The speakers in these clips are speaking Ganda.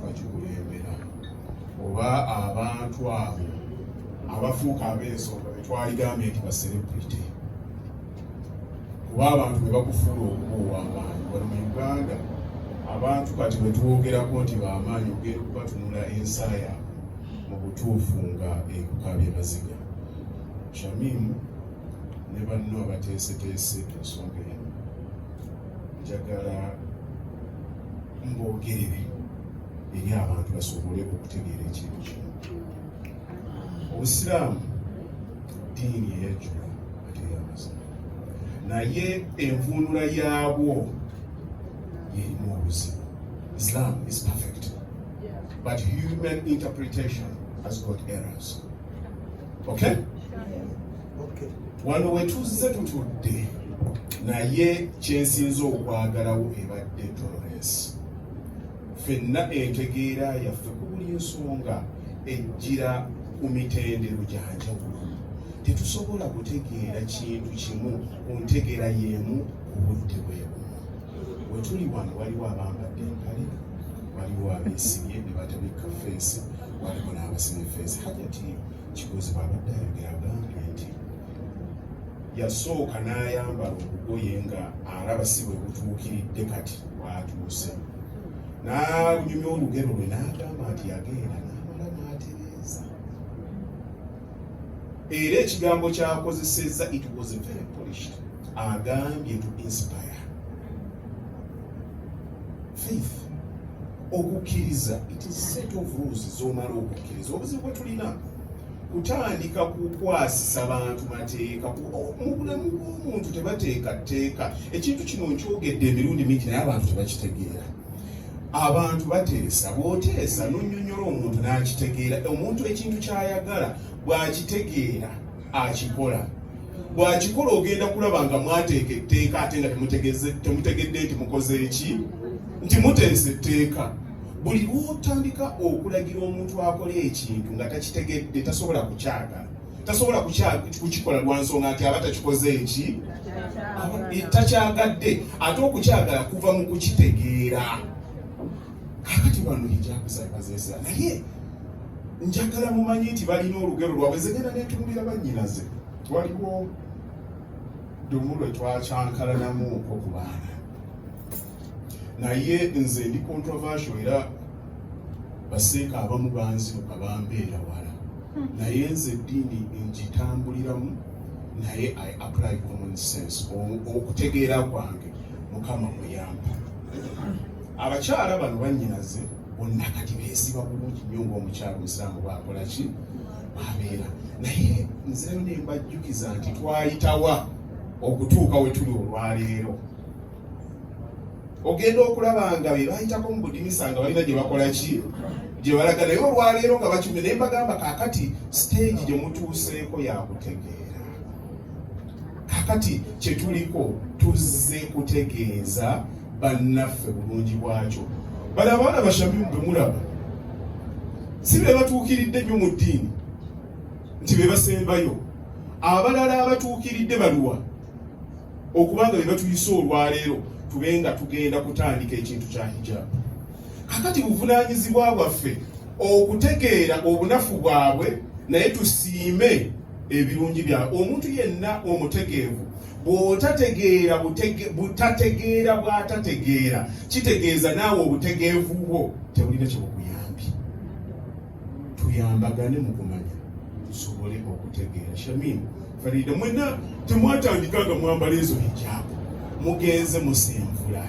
bakikulembera oba abantu abo abafuuka ab'ensonga betwaligambye nti baserebrity kuba abantu bebakufuula okuba ow'amaanyi wali mu uganda abantu kati bwetwogerako nti bamaanyi ogenda okubatunula ensa yaabwe mu butuufu nga ekukabye maziga shamimu ne banno abateeseteese ensonga eno njagala mbogerere eri abantu basobole okutegeera ekintu kino obusiraamu diini eyajjula ate yamazima naye envuunula yaabwo yerimu obuzibu islam is perfect but human interpretation has got errors okay wano wetuzze tutudde naye kyensinza okwagalawo ebadde tolerance fenna entegeera yaffe ku buli nsonga ejjira ku mitendero gyanjawulo tetusobola kutegeera kintu kimu ku ntegeera y'emu ku budde bwebumu wetuli wano waliwo abambadde empale waliwo abeesibye ne batabikka feesi waliwo n'abasima efeesi hajati Kigozi bw'abadde ayogera agambye nti yasooka n'ayambala obugoye nga alaba si bwe butuukiridde kati bwatuuse n'anyumya olugero lwe n'agamba nti yagenda n'amala n'atereeza era ekigambo kyakozesezza it was very polished agambye to inspire faith okukkiriza it is set of rules zomala okukkiriza obuzibu bwe tulina kutandika kukwasisa bantu mateeka mu bulamu bw'omuntu tebateeka tteeka ekintu kino nkyogedde emirundi mingi naye abantu tebakitegeera abantu bateesa bwoteesa nonyonyola omuntu n'akitegeera omuntu ekintu ky'ayagala bw'akitegeera akikola bwakikola ogenda kulaba nga mwateeka etteeka ate nga temutegedde nti mukoze eki nti muteesa etteeka buli lwotandika okulagira omuntu akola ekintu nga takitegedde tasobola kukyagala tasobola kukikola lwansonga nti aba takikoze eki takyagadde ate okukyagala kuva mu kukitegeera kakati wano ejakusaibazesa naye njagala mumanyi nti balina olugero lwabwe zegenda netunulira banyinaze waliwo dumu lwe twakyankalanamu okwo ku baana naye nze ndi controversial era baseeka abamu banziruka bambeera wala hmm. naye nze eddiini ngitambuliramu naye i apply common sense okutegeera kwange mukama muyamba abakyala bano bannyinaze bonna kati beesiba bulungi nnyo ngaomukyala omusiraamu bwakola ki bwabeera naye nzeyo ne mbajjukiza nti twayitawa okutuuka we tuli olwaleero ogenda okulaba nga be bayitako mu budinisa nga balina gye bakola ki gye balaga naye olwaleero nga bakiume naye mbagamba kaakati siteegi gye mutuuseeko yakutegeera kaakati kye tuliko tuzze kutegeeza bannaffe bulungi bwakyo bali abaana bashamimu bemulaba si be batuukiridde nnyo mu ddiini nti be basembayo abalala abatuukiridde baluwa okubanga be batuyise olwaleero tube nga tugenda kutandika ekintu kya hijabu kakati buvunaanyizibwa bwaffe okutegeera obunafu bwabwe naye tusiime ebirungi byabwe omuntu yenna omutegeevu bw'otategeera butategeera bw'atategeera kitegeeza naawe obutegeevu bwo tebulina kyebukuyambye tuyambagane mu kumanya tusobole okutegeera shamin farida mwena temwatandika nga mwambala ezo hijaabu mugenze musenvula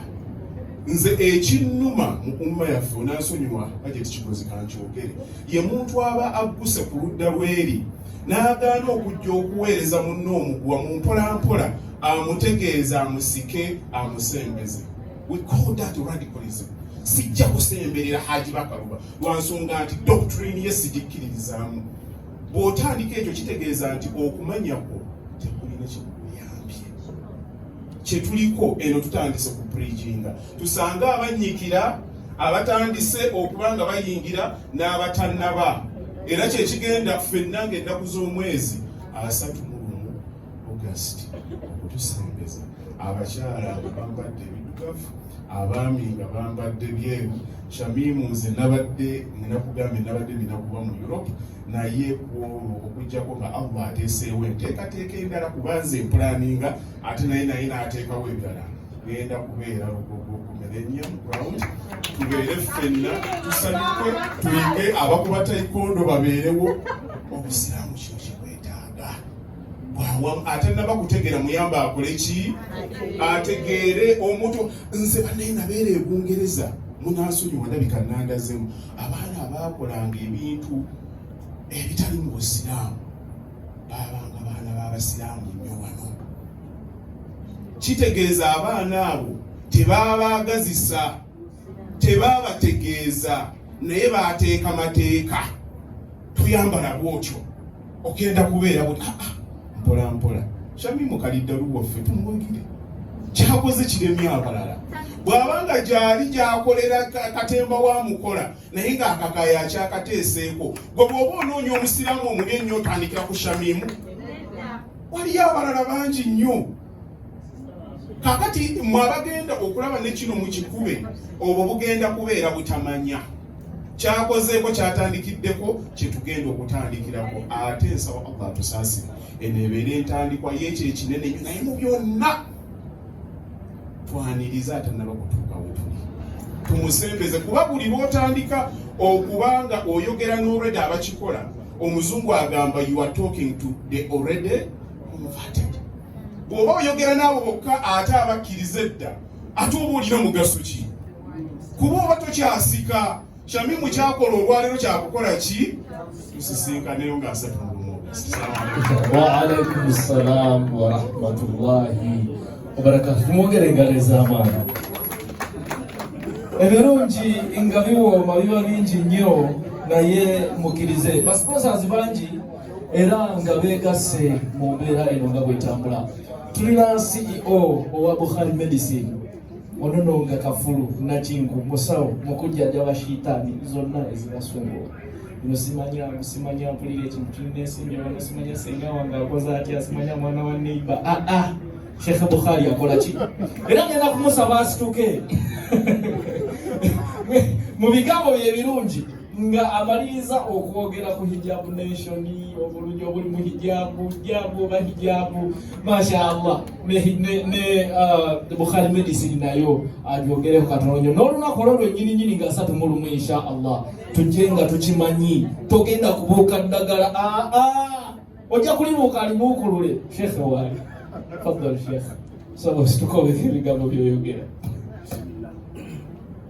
nze ekinnuma mu umma yaffe onansonyiwa aje tikikozi kankyogere ye muntu aba agguse ku ludda lweri n'agaana okujja okuweereza munne omuguwa mu mpolampola amutegeeza amusike amusembeze we call that radicalism sijja kusemberera haji bakaluba lwansonga nti doctrine ye sigikkiririzaamu bw'otandika ekyo kitegeeza nti okumanya kwo tekulina kikuyambye kye tuliko eno tutandise ku preginga tusange abannyikira abatandise okuba nga bayingira n'abatannaba era kyekigenda ffenna nga ennaku z'omwezi asatu mu lumu august okutusembeza abakyala nga bambadde ebidugavu abaami nga bambadde byeru shamimu nze nabadde ninakugambe nabadde ninakuba mu europe naye kwolwo okujjako nga allah ateeseewo enteekateeka endala kubanze empulaninga ate naye naye naateekawo endala tugenda kubeera lugogo ku millennium ground tubeere ffenna tusanyuke tuyige abakuba taikondo babeerewo obusiraamu kino kikwetaaga bwawamu ate naba kutegeera muyamba akole ki ategeere omuntu nze banaye nabeera ebungereza munasonyiwa ndabika nandazemu abaana abaakolanga ebintu ebitali mu busiraamu baabanga baana b'abasiraamu nnyo wano kitegeeza abaana abo tebaabaagazisa tebaabategeeza naye baateeka mateeka tuyambala bwotyo ogenda kubeera buti ah, ah, mpola mpola shami mukaliddalu waffe tumwogire kyakoze kiremye abalala bw'abanga gyali gyakolera katemba wa mukola naye nga akakaya akyakateeseeko gwe bwoba onoonya omusiraamu omuli ennyo otandikira ku shamimu waliyo abalala bangi nnyo kakati mwabagenda okulaba nekino mukikube obwo bugenda kubeera butamanya kyakozeeko kyatandikiddeko kyetugenda okutandikirako ate nsaba allah tusaasira eno ebeera entandikwa yekyo ekinene naye mu byonna twaniriza atanaba kutuuka wetuli tumusembeze kuba buli lwotandika okuba nga oyogera n'olweda abakikola omuzungu agamba you are talking to the already converted bw'oba oyogera naawe bokka ate abakkiriza edda ate oba olina mugaso ki kuba oba tokyasika Shamimu kyakola olwaleero kyakukola ki tusisinkaneyo nga asatu mulumu waalaikum salaamu warahmatullahi wabarakatu tumwongere engalo ez'amaani ebirungi nga biwooma biba bingi nnyo naye mukirize basiponsazi bangi era nga beegasse mu mbeera eno nga bwetambula tulina ceo owa bukhari medicine ono nonga kafulu nakinku musawo mukujjajaba shitaani zonna ezibasumbuwa no simanya simanya mpulira ekintu kinensimbi wano simanya senga wange akoze atya simanya mwana wa neiba aa ah, ah, shekhe bukhari akola ki era ngenda kumusaba asituke mu bigambo bye birungi nga amaliriza okwogera ku hijabu nation obulungi obuli mu hijabu hijabu oba hijabu mashallah ne uh, bukhari medicine nayo agyogereko katono nyo n'olunaku olwo lwenyini nyini nga asatu mu lumu insha allah tujje nga tukimanyi togenda kubuuka ddagala aa ah, ah. ojja kulibuuka alibuukulule shekhe waali fadal shekhe sobosi tukobe ebigambo byoyogera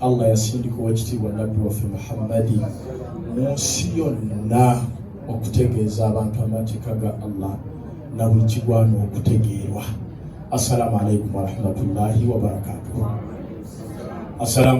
Allah yasindika owekitiibwa nabbi waffe Muhammadi mu nsi yonna okutegeeza abantu amateeka ga Allah na buli kigwana okutegeerwa. Assalamu alaikum warahmatullahi wabarakatuh.